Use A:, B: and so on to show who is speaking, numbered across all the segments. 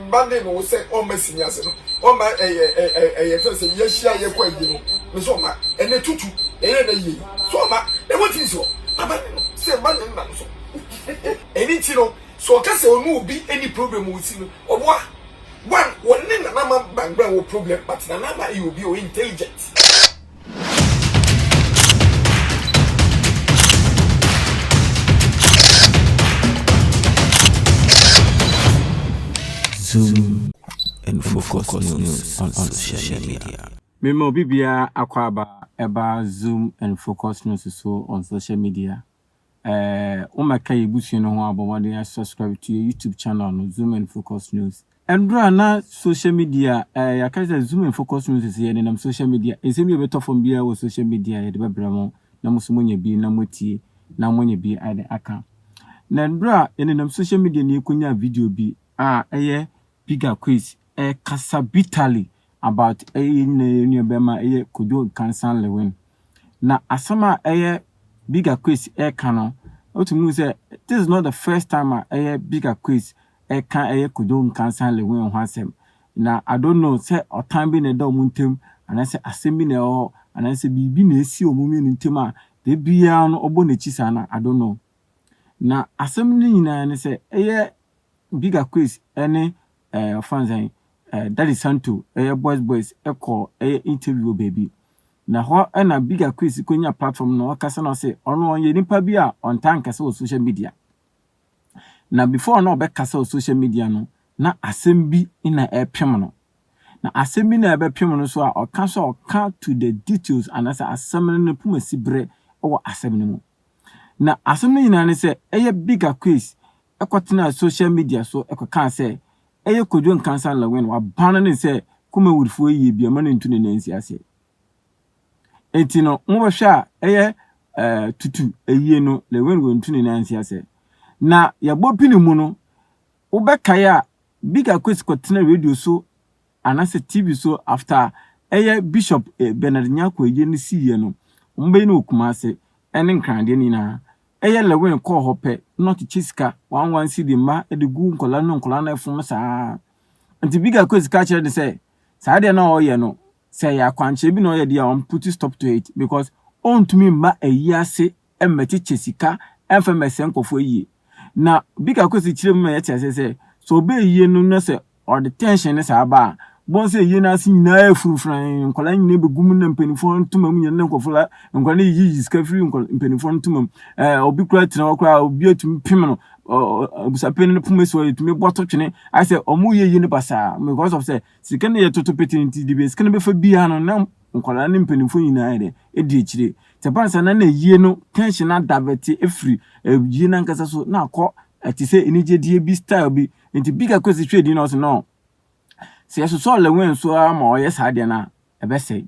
A: Mma ne no sɛ ɔmma sini ase no ɔmma ɛyɛ ɛyɛ ɛfɛ no sɛ yɛahyia yɛkɔ ayie no me sɛ ɔmma ɛnɛ tutu ɛyɛ ɛnɛ yie yi sɛ ɔmma na watumi si hɔ ama ne no sɛ mma ne nna no so ɛni nti no sɛ ɔka sɛ ɔne obi ɛni problem wɔ si no ɔboa one wɔne nana ma bangbra wɔ problem but nana ma ɛyɛ obi ɔyɛ intelligent.
B: Zoom and focus news on social media. Mema obi biara
C: akwaaba ɛba Zoom and focus news so on social media. Eh wo mɛka yɛ busua no ho abɔ mmɔden a subscribe to yɛ YouTube channel no Zoom and Focus News. Ɛduru a na social media eh yɛaka sɛ Zoom and Focus News sɛ yɛde nam social media nsɛm bi a ɛbɛtɔ fam biara wɔ social media yɛde bɛbrɛ mo na mo nso moanya bi na moatie na moanya bi de aka. Na ɛduru a yɛde nam social media na yɛkɔnyaa video bi a ɛyɛ Bigger Quiz ɛrekasa bitterly about yɛn nua yɛn nua bɛrima ɛyɛ Kojo Nkansah Lewin. Na asɛm a ɛyɛ Big Akwes ɛreka no wotumi hu sɛ this is not the first time a ɛyɛ Big Akwes ɛreka ɛyɛ Kojo Nkansah Lewin ho asɛm. Na I don't know sɛ ɔtan bi na ɛda wɔn ntam anaasɛ asɛm bi na ɛwɔ hɔ anaasɛ biribi na ɛsi wɔn mmienu ntam a da biara no ɔbɔ n'akyi saa no I don't know. Na asɛm no nyinaa ne sɛ ɛyɛ Big Akwes ɛne ɛɛ ɔfrɛ no sɛn, ɛɛ Daddy Santo, ɛyɛ Boys Boys kɔ ɛyɛ interview wɔ baabi. Na hɔ na Bigga Chris kɔnya platform na ɔkasa na ɔse ɔno ɔyɛ nipa bi a ɔntaa nkasa wɔ social media. Na before na ɔbɛkasa wɔ social media no, na asɛm bi na ɛrepem no. Na asɛm bi na ɛbɛpem no so a ɔka so a ɔka to the details anaasɛ asɛm no ne pomasiberɛ wɔ asɛm no mu. Na asɛm no nyinaa ne sɛ ɛyɛ Big Aquis kɔtenaa social media so kɔkaa sɛ ɛyɛ Kojo Nkansah Lawin waban no ne sɛ Kumawudfoɔ yi yɛ bi mma no ntu ne nan nsi aseɛ. Enti no mobɛhwɛ a ɛyɛ eh, tutu ayie no Lawin wantu ne nan ansi aseɛ. Na yɛbɔ pini mu no wobɛkae a Big Aquis kɔtena radio so anasɛ TV so after ɛyɛ Bishop Bernard Nyarko ɛyɛ no sii yɛ no ɔmo bɛyɛ no wɔ Kumase ɛne Nkran deɛ no nyinaa ɛyɛ Lewin kɔɔ hɔ pɛ na ɔkyekyɛ sika one one cedi mma ɛde gu nkwadaa no nkwadaa no ɛfom saa nti Big Akwesi ka kyerɛ no sɛ saa deɛ na ɔyɛ no sɛ ɛyɛ akwankyerɛ bi na ɔyɛ deɛ a ɔmo put stop to it because ɔntumi mma ayi ase mmɛkyekyɛ sika mfa mmɛsɛe nkurɔfoɔ yie. Na bi ka kɔ sɛ kyerɛ mu ma yɛte aseɛ sɛ, sɛ ɔbɛyɛ yie no na sɛ ɔde tension no saa ba a, wobɛhu sɛ yie no ase nyinaa ayɛ furumfurann, nkwadaa nyinaa bɛgu mu na mpanimfoɔ ntoma mu nyinaa na nkurɔfoɔ la, nkwadaa no yiyi sika firi nkwadaa mpanimfoɔ no ntoma mu. Ɛɛ obi koraa tena hɔ koraa obi atumi pem no abusuapɛn no poma si hɔ yɛtumi bɔ to twene ayɛ sɛ wɔyɛ yie no basaa because of sɛ sika no yɛ toto pete nti de bia sika no bɛfa biara no na nkwadaa ne mpanimfoɔ nyinaa yɛ dɛ ɛdi akyire nti ɛba no saa na na ayie no tension no adavɛte ɛfiri ayie no ankasa so na akɔ te sɛ anigyedeɛ bi style bi nti big akɔ si hwɛ din na ɔsɛ no sɛ yɛsosɔ ɔlɛwɛn nso ara ma ɔyɛ saa deɛ no a ɛbɛsɛe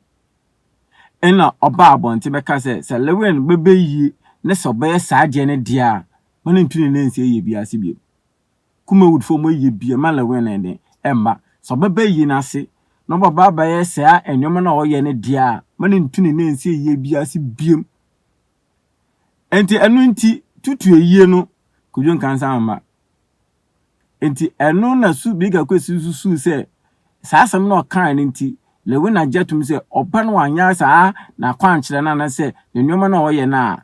C: ɛna ɔba abɔnten bɛka sɛ sɛ lɛwɛn bɛbɛ yie na sɛ ɔbɛyɛ saa deɛ no deɛ a ma no ntu ne nansi ɛyɛ bi ase bio Kumawood fo a wɔayɛ bi mma Lewin no de, ɛmma. Sɛ ɔbɛba ayi no ase na ɔbɛba abɛyɛ saa nneɛma no a ɔyɛ no dea a, mma no ntu ne nansi ayiyɛ biara ase bio. Enti ɛno nti, tutu ayie no Kwadwo Nkansah mma. Enti ɛno na Su Bigga Kwesi susuw sɛ saa asɛm no a ɔkae no nti, Lewin agye atom sɛ ɔba no anyɛ saa n'akwankyerɛ no anaasɛ ne nneɛma no a ɔyɛ no a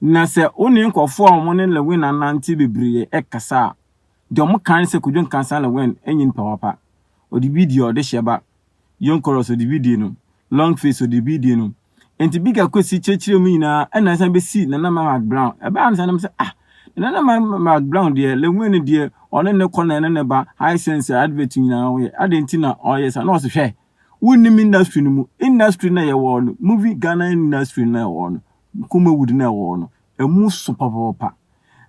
C: Na sɛ wo ne nkorɔfoɔ a wɔne Lewin anante bebree kasa a, deɛ wɔka ara ne sɛ Kojo Nkansah Lewin nyɛ nipa papa. Ɔde bi die ɔdehyeɛ ba. Young Chorus ɔde bi die no. Long Face ɔde bi die no. Enti Bigga Kwesi kyerɛkyerɛɛ mu nyinaa ɛna ɛsan bɛsii Nana Mma Mac Brown. Ɛbaa a na saa na mesɛ ah Nana Mma Mac Brown deɛ Lewin deɛ ɔne ne kɔ na ɛne ne ba High Sense advert nyinaa wɔyɛ. Adɛn nti na ɔyɛ saa? Na ɔse hwɛ wonnim industry no mu. Industry no a yɛwɔ no, movie Ghana industry no a yɛwɔ no, Nkomawood no a ɛwɔ hɔ no, ɛmu so papaapa.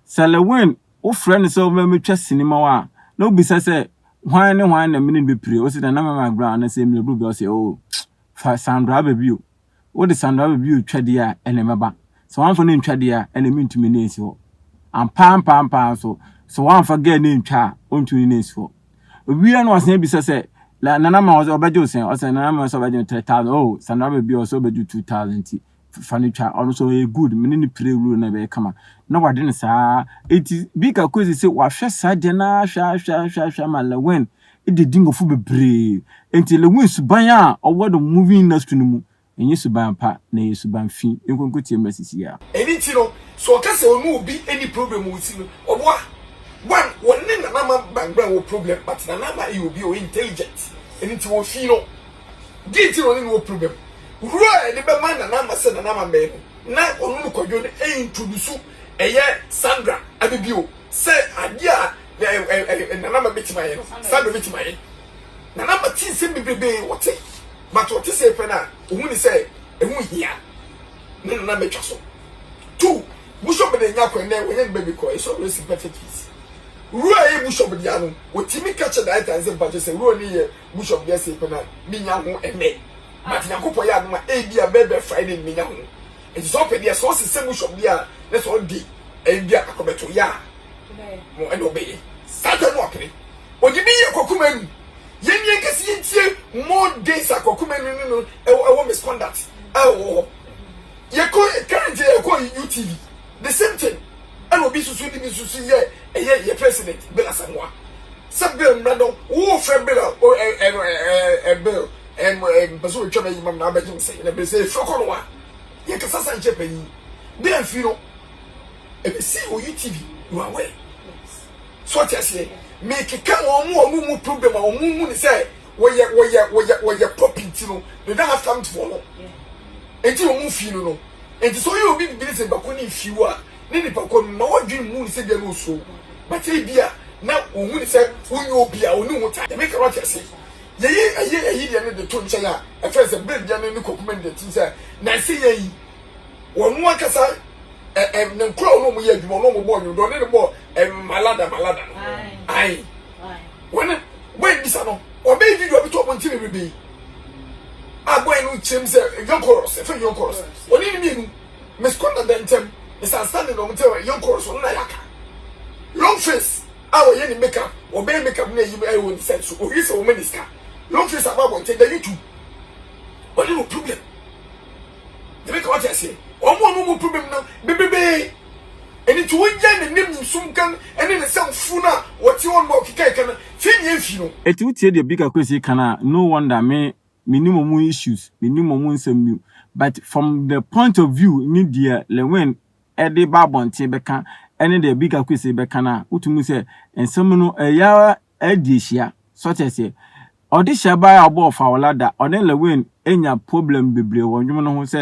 C: Sɛ Lewin wofrɛ no sɛ ɔmmɛtwa sini ma wo a, na wobisa sɛ, Hwan ne hwan na me ne no bɛpire? Wose dɛn? Nana Mɛma Brown anaa sɛ Mmerɛburu Bia? Ɔse, Oh, fa Sandra aba bio. Wode Sandra aba bio twa deɛ a, ɛnna mɛba. Sɛ woamfa no antwa deɛ a, ɛnna mentumi ne nsi hɔ. Ampa ara ampa ara ampa ara nso, sɛ woamfa girl no antwa a, ɔntumi ne no nsi hɔ. Owie a na wasan abisa sɛ, Nana Mɛma ɔbɛgye wo sɛn? Ɔse, Nana Mɛma sɛ ɔbɛgye me three thousand. Oh, Sandra aba bio a, ɔse ɔbɛgye wo two thousand nti, fa no twa ɔno nso ɔyɛ good mene no pire wuro na ɛbɛyɛ kama na wade no saa eti bika kosi sɛ wahwɛ saa deɛ na ahwɛ ahwɛ ahwɛ ahwɛ ama lewin de di nkɔfo bebree eti lewin suban a ɔwɔ no movie industry no mu ɛnyɛ suban pa na ɛyɛ suban fi nkonko tie mmerɛ sisi a. Ɛni ti no sɛ
A: ɔka sɛ ɔne obi ɛni problem wɔ si no ɔboa one wɔne nana ama bangbran wɔ problem but nana ama ɛyɛ obi ɔyɛ intelligent ɛni ti wɔ fi no. Deɛ nti na ɔne no wɔ problem. Huro a yɛde bɛma Nana Ama sɛ Nana Ama mmɛn no, na ɔno ne Kwadwo no introduce ɛyɛ Sandra Abibio sɛ adeɛ a Nana Ama bɛtumi ayɛ no, Sandra bɛtumi ayɛ. Nana Ama te nsɛm bebrebe, ɔte, but ɔte sei pɛ no a, ɔhu ne sɛ ɛho hia ne Nana Ama atwa so. Two, Bushop de nya kwan nɛ, wɔnyɛ ne baby kɔ, ɛsɛ ɔbrɛ sympathetic fees. Huro a ɛyɛ Bushop deɛ no, ɔtumi ka kyerɛ director no sɛ mpakyɛ sɛ Huro ne yɛ Bishop deɛ sei pɛ na menya ho ɛnnɛ. But Nyankopɔn yɛ adom a ebia bɛbɛ Friday no menya ho. Nti sɛ ɔpɛ deɛ sɛ ɔse sɛ Bishop deɛ a na sɛ ɔde ebia akɔbɛto yɛ a mo ɛna ɔbɛyɛ. Saa time no wapene. Ɔde bi yɛ Kwaku Manu. Yɛn deɛ nka sɛ yɛntie more days a Kwaku Manu ne no ɛwɔ misconduct a ɛwɔ hɔ. Yɛkɔ currently yɛkɔ UTV the same thing ɛna obi susu de bi susu yɛ ɛyɛ yɛ president Bill Asamoah. Sɛ bill mmrɛ no wo frɛ bill a o ɛ ɛ no ɛ ɛ ɛ bill ɛ mo ɛ mpɛ sɛ otwa bɛyi mam na abɛgye me sɛn na bɛ sɛ efiri kɔ no a yɛ kasa sa nkyɛ panyin bɛ amfiri no ɛbɛ si o you tv you are aware so ɔte aseɛ me keka wɔn mo wɔn mu problem a wɔn mu mu ne sɛ wɔyɛ wɔyɛ wɔyɛ wɔyɛ pop nti no they don't have time for no nti wɔn mu fii no no nti sɛ ɔyɛ obi bibi ne sɛ bako ne nfiw a. ne nipa kɔ no mma w'adwene mmu no sɛ deɛ na ɔsuro wo, but ebia na ɔhu no sɛ wonyɛ obi a ɔne wo taa. Deɛ meka no wate aseɛ? Yɛyi ɛyɛ ayi deɛ no de to nkyɛn a, ɛfrɛ sɛ berɛ biara n'ani kɔ kuma no deɛ tim sɛ nansa yi ayi ɔno ankasa ɛ ɛ ne nkoraa ɔne wɔn yɛ adwuma ɔne wɔn bɔɔ nnwom deɛ ɔne no bɔɔ ɛ malada malada no ae wɔne bɔɛ no bisa no ɔbɛyɛ video abɛtɔ ɔmo ntini rebe a bɔɛ no kyerɛ mu sɛ young chorus ɛfrɛ young chorus ɔne no mmienu Miss Kona Denkyem, Miss Outstanding na wɔn nti yɛn kɔɔ so no na yɛaka. Long Face a ɔyɛ ne make up, ɔbɛyɛ make up na ayi ayɛ wɔ ne side so, ohwɛ sɛ wɔma ne sika. Long Face aba abɔnten da YouTube. Ɔne no problem. Yɛbɛka wate aseɛ. Wɔn a wɔn mu problem no bebrebee. Ɛno nti wogyae n'anim nsum kan ne ne nsɛm funu a wɔte hɔ no a ɔkeka ɛka no, fii ne yɛn fii no. Eti wotie deɛ Bika
C: Kwesi ka no a, no wonder me menim ɔmo issues, menim ɔmo nsɛm bio but from the point of view ne deɛ Lewin de ba abɔnten bɛka ɛne deɛ Big Akuese bɛka no a, wotumi hu sɛ nsɛm no ɛyɛ ara di ahyia. So ate aseɛ? Ɔde hyɛ baeɛ a ɔbɔɔ Fawola da, ɔne Lewin nya problem bebree wɔ nnwom no ho sɛ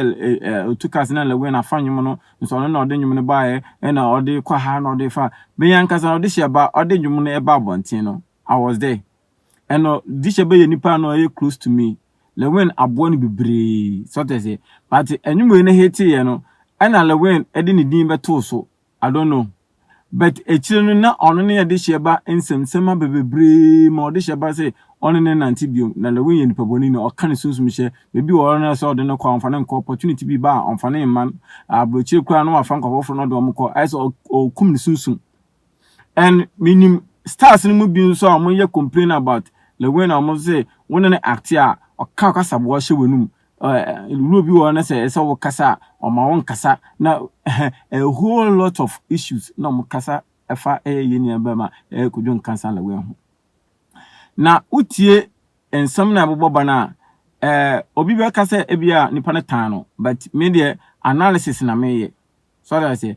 C: ɔtu ka sɛ na Lewin afa nnwom no nso ɔno na ɔde nnwom no baeɛ ɛna ɔde kɔ ha na ɔde fa. Me ankasa no ɔde hyɛ ba ɔde nnwom no ba abɔnten no I was there. Ɛno de hyɛ bɛyɛ nipa no ɛyɛ close to me lewin aboa no bebree sɔtɛsɛ but ɛnwom wei no hete yɛ no ɛna lewin ɛde ne din bɛtoo so I don't know but akyire no na ɔno ne ɛde hyɛ ba nsɛm sɛm abɛ bebree ma ɔde hyɛ ba sɛ ɔne ne nante biom na lewin yɛ nipa bɔne na ɔka ne sunsum hyɛ bebi wɔ ɔno sɛ ɔde no kɔ a ɔmfa no nkɔ opportunity bi ba a ɔmfa no mma aburokyire koraa na wafa nkɔfɔforo na ɔde wɔn kɔ ayɛ sɛ ɔkum ne sunsum and menim stars no mu bi nso a wɔyɛ complain about the way na wɔn sɛ wo ne no acte a ɔka kasaboa hyɛ w'anum wuro bi wɔ na sɛ ɛsɛ wo kasa a ɔma wo nkasa na a whole lot of issues na wɔn kasa ɛfa ɛyɛ yɛ nua bɛma ɛyɛ kodwo nkansa na wɔn ho na wotie nsɛm na ɛbobɔ ba na ɛɛ obi bɛka sɛ ebi a nipa no tan no but me deɛ analysis na meyɛ So ate aseɛ?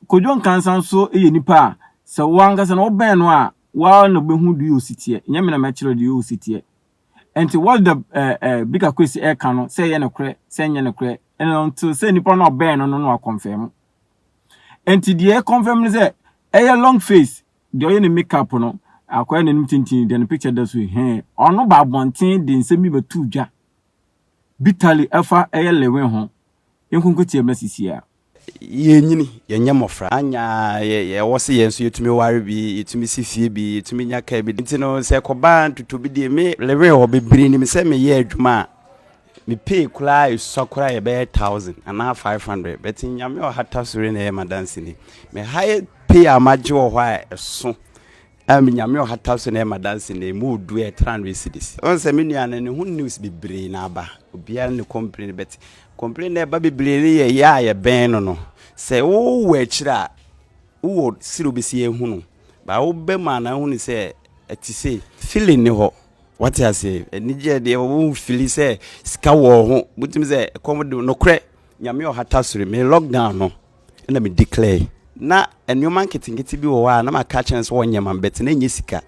C: Kojo Nkansah nso yɛ nipa a, sɛ wo ankasa no wobɛn no a, wo ara na wobɛhu deɛ ɔyɛ ɔsi teɛ. Nyɛ me na mɛkyerɛ wo deɛ ɔyɛ ɔsi teɛ. Nti what the eh, eh, Bika Kwesi ɛka no, sɛ ɛyɛ nokorɛ, sɛ ɛnyɛ nokorɛ, ɛno nti sɛ nipa no a ɔbɛn no no na wakɔnfɛm. Nti deɛ ɛkɔnfɛm no sɛ, ɛyɛ long face, deɛ ɔyɛ ne makeup no, akɔyɛ n'anim tintin, deɛ ne picture da so hɛn. Ɔno ba abɔnten de nsɛm bi bɛtoo dwa, bitterly ɛfa ɛyɛ Lewin ho. yɛnkonkotia ma sisi a. Yɛrenyini,
D: yɛnyɛ mmɔfra. Anyɛ a, yɛwɔ se yɛn nso yɛtumi ware bi, yɛtumi si fie bi, yɛtumi nya kaa bi. Nti no, sɛ ɛkɔba ntoto bi deɛ, me lewee hɔ bebree nim sɛ meyɛ adwuma a, me pay koraa ɛsua koraa yɛbɛyɛ thousand anaa five hundred. But Nyame ɔhata sore na ɛyɛ m'adanseni. Me highest pay a magye wɔ hɔ a ɛso Ah me Nyame ɔhata so na ɛma danse nnɛ yi mowɔ du a ɛtra hundred cedis. Wohu sɛ me nua no ne ho news bebree na aba obiara ne complain but complain na ɛba bebree no yɛ yɛ a yɛbɛn no no sɛ wowɔ akyire a wowɔ siri wobɛsi ahunu ba woba mu a na ahunu sɛ ɛte sei feeling ne hɔ wate ase anigyeɛ deɛ wohu fili sɛ sika wɔ ho wotumi sɛ ɛkɔm de nokorɛ Nyame ɔhata soro me lockdown no na me declare na nneɛma nketenkete bi wɔ hɔ a na maka kyerɛ no sɛ wɔnyɛ ma bɛte na ɛnyɛ sika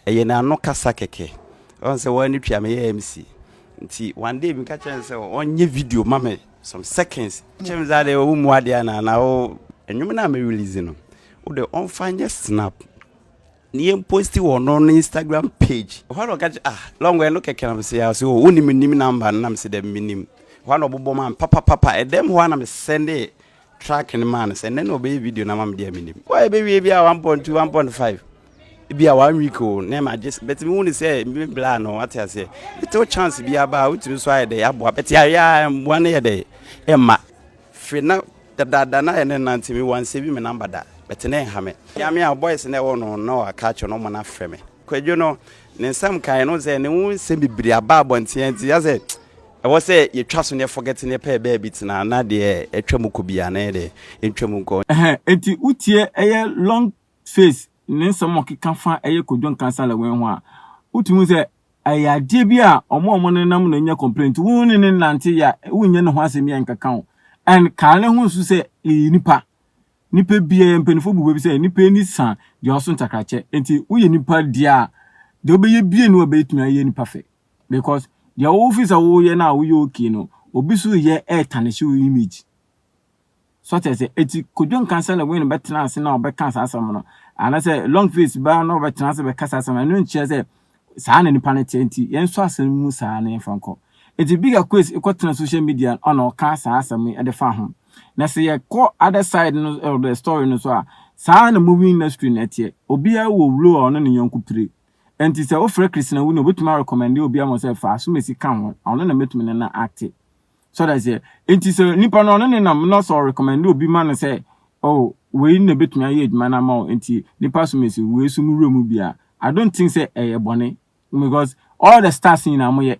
D: ɛyɛ na ano kasa kɛkɛ ɔn sɛ wɔn ne twia meyɛ mc nti one day meka kyerɛ no sɛ ɔnyɛ video ma me some seconds kyerɛ me sɛ adeɛ ɔwo mu adeɛ anaa na wo nnwom no a me release no wode ɔmfa nyɛ snap Ne yɛ posti wɔ ɔno ne Instagram page. Ɛhɔ a na ɔka kyerɛ ah Longwe ɛno kɛkɛ na mese ase o wonim menim number no na mese dɛm menim. Ɛhɔ a na ɔbobɔ maa me papapapa ɛdɛm hɔ a na me sɛnde track no maa no sɛ nnɛ na ɔbɛyɛ video no ama me deɛ menim. Wɔ ɛbɛwie bi a 1.2 1.5 bi a one week o na ɛma gye bɛte me hu ne sɛ me bla no wate aseɛ ɛte wo chance bi aba a wotumi so ayɛ dɛ aboa bɛte ayɛ a mmoa no yɛ dɛ ɛma Firi na dadaada na yɛ ne nante me wan save me number da but na ɛha me. Nyame a boys na ɛwɔ no na wa ka akyerɛ no ɔmo na frɛ me. Kwadwo no ne nsɛm kan no sɛ ne ho nsɛm bebree aba abɔnten nti asɛ ɛwɔ sɛ yɛ twa so ne yɛ forget ne pɛ baabi tena na deɛ ɛtwa mu kɔ biara na yɛ deɛ ɛntwa mu nkɔ. Ɛhɛn enti wo tie
C: ɛyɛ long Faith ne nsɛm a ɔkeka fa ɛyɛ Kojo Nkansah Lewin ho a, wotumi hu sɛ ɛyɛ adeɛ bi a wɔn a wɔn nenam na nya complain nti wo ne ne nante yɛ a wonyɛ ne ho asɛm yɛ nkeka wo and kaa ne ho nso sɛ yɛyɛ nipa nipa bi yɛyɛ mpanyinfoɔ bu baabi sɛ nipa ani sa deɛ ɔso ntakrakyɛ nti woyɛ nipa deɛ a deɛ wobɛyɛ bie no wabɛtumi ayɛ nipa fɛ because deɛ wofi sɛ woyɛ no a woyɛ okay no obi so yɛ ɛɛtanehye wo image So kyerɛ sɛ eti Kojo nka sɛ Lewin bɛtena ase na ɔbɛka saa asɛm no? Anaasɛ Longface baa na ɔbɛtena ase bɛka saa asɛm no? Ɛno nkyerɛ sɛ saa na nipa no teɛ nti yɛn nso asɛm no mu saa na yɛmfa nkɔ. Eti Big Aquace kɔtena social media no na ɔka saa asɛm yi de fa ho. Na sɛ yɛkɔ other side no of the story no so a, saa na movie industry no ɛteɛ. Obiara wɔ role a ɔne ne yɔnko pire. Ɛnti sɛ wofrɛ Christina Winnie obetumi arecommende obi ama wo sɛ fa asomasi ka ho na ɔno na mɛtumi ne no acte. So that aseɛ? Nti sɛ nipa no ɔne ne nam na sɛ ɔrecommend obi ma no sɛ oh wei na ɛbɛtumi ayɛ adwuma no ama wo nti nipa som asi wei so no wura mu bi a, I don't think sɛ ɛyɛ bɔne because all the stars nyinaa moyɛ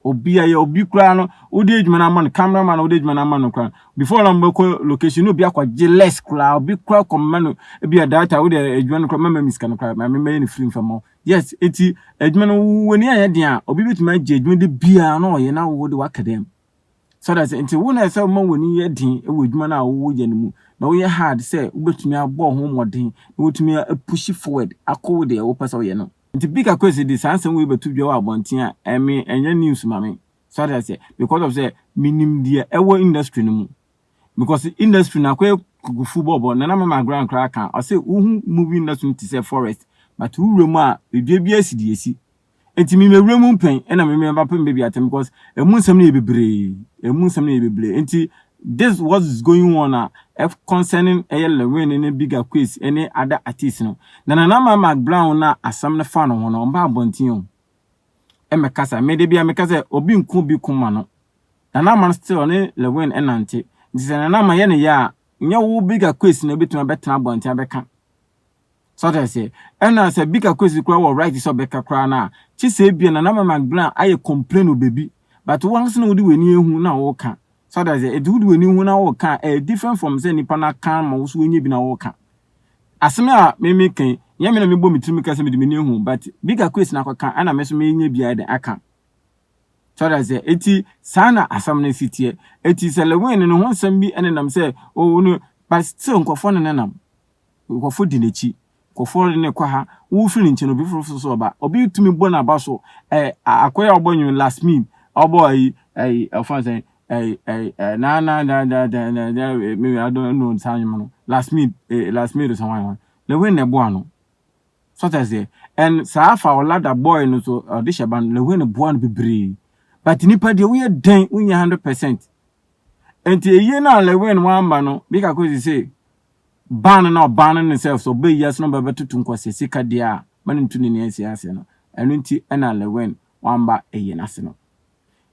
C: obi ayɛ obi koraa no wode adwuma no ama no camera man wode adwuma no ama no koraa before na mobɛkɔ location no obi akɔgye less koraa obi koraa kɔma no ebi a data wode adwuma no koraa mɛma mi sika no koraa ma mɛyɛ no free mfama Yes, enti adwuma no w'ani ayɛ den a obi betumi agye adwuma de biara na ɔyɛ na wo de waka dɛm. So that's it. Nti wo na ɛsɛ ma w'ani yɛ den wɔ adwuma no a woyɛ no mu na woyɛ hard sɛ wobetumi abɔ ho mmɔden na wotumi apushi forward akɔ wo deɛ wopɛ sɛ woyɛ no. Nti Bika Kwesi de saa nsɛm wei bɛto dwa wɔ abɔnten a ɛme ɛnyɛ news ma me. So that's it. Because of sɛ menim deɛ ɛwɔ industry no mu. because industry no akɔyɛ kukufu bɔbɔ na na mama agorɔ koraa ka ɔsɛ wohu movie industry no te sɛ forest but wowura mu a edua biara si deɛ esi nti me mewura mu mpɛn ɛna me meba pɛ mbɛbi atɛm because emu nsɛm no yɛ bebree emu nsɛm no yɛ bebree nti this what is going on a ɛf concerning ɛyɛ lewin ne biga quiz ɛne ada artist no na nana ma mac brown na asɛm no fa no ho no ɔmba abɔnten o mmɛkasa. Me de bia meka sɛ obi nku obi ko ma no. Nana Ama no still ɔne Lewin ɛnante. Nti sɛ Nana Ama yɛ ne yɛ a, nyɛ wo Bigger Kwesi na obetumi abɛtena abɔnten abɛka. So ɔte aseɛ? Ɛna sɛ Bigger Kwesi koraa wɔ right sɛ ɔbɛka koraa no a, kye sɛ ebia Nana Ama ma Glenn ayɛ complain wɔ baabi. But wo ankasa na wode w'ani ahu na woka. So ɔte aseɛ? Nti wode w'ani hu na woka a, ɛyɛ different from sɛ nipa no aka ama wo so woanya bi na woka. Asɛm a me meka yi, nyɛ me na mebɔ me tirim ka sɛ mede m'ani ahu but bi ka Chris na akɔka na me nso menya bi ayɛ dɛn aka. So ɔda sɛ, eti saa na asɛm no si teɛ. Eti sɛ Lewin no ne ho nsɛm bi nenam sɛ, oh, wo no, but still nkurɔfoɔ ne nenam. Nkurɔfoɔ di n'akyi. Nkurɔfoɔ ne kɔ ha. Wofiri ne nkyɛn, obi foforo so ɔba. Obi tumi bɔ n'aba so. Eh, akoya a ɔbɔ nwom last mean, ɔbɔ ayi, ayi, ɔfa sɛn, ɛy ɛy ɛy na na da da da da da me I don't know saa nnwom no lasmid eh lasmid san wan wan lewin na ɛboa no sɔtɛ seɛ and saa faolada boy no so ɔde hyɛ ba no lewin boa no bebree but nipa deɛ woyɛ dɛn wonyɛ hundred percent nti eyie no a lewin wamba no bi kako si se ban no na ɔban no ne self so ɔbɛ yi ase na ɔbɛbɛtoto nkɔsɛ sika deɛ a ma ne ntu ne nea ɛsi ase no ɛno nti ɛna lewin wamba eyie no ase no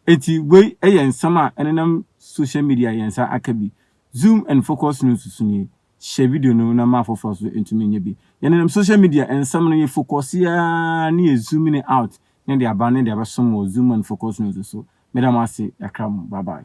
C: Enti wei yɛ nsɛm a ɛnenam social media a yɛn nsa aka bi. Zoom and focus no nsusu nie, Hyɛ video no na ma afoforɔ nso ntumi nyɛ bi. Yɛnenam social media nsɛm no, yɛfokɔse ara ne yɛ zoomini out ne deɛ aba ne deɛ abɛsom wɔ Zoom and focus no nso so. Meda mo ase kakra mo, bye bye.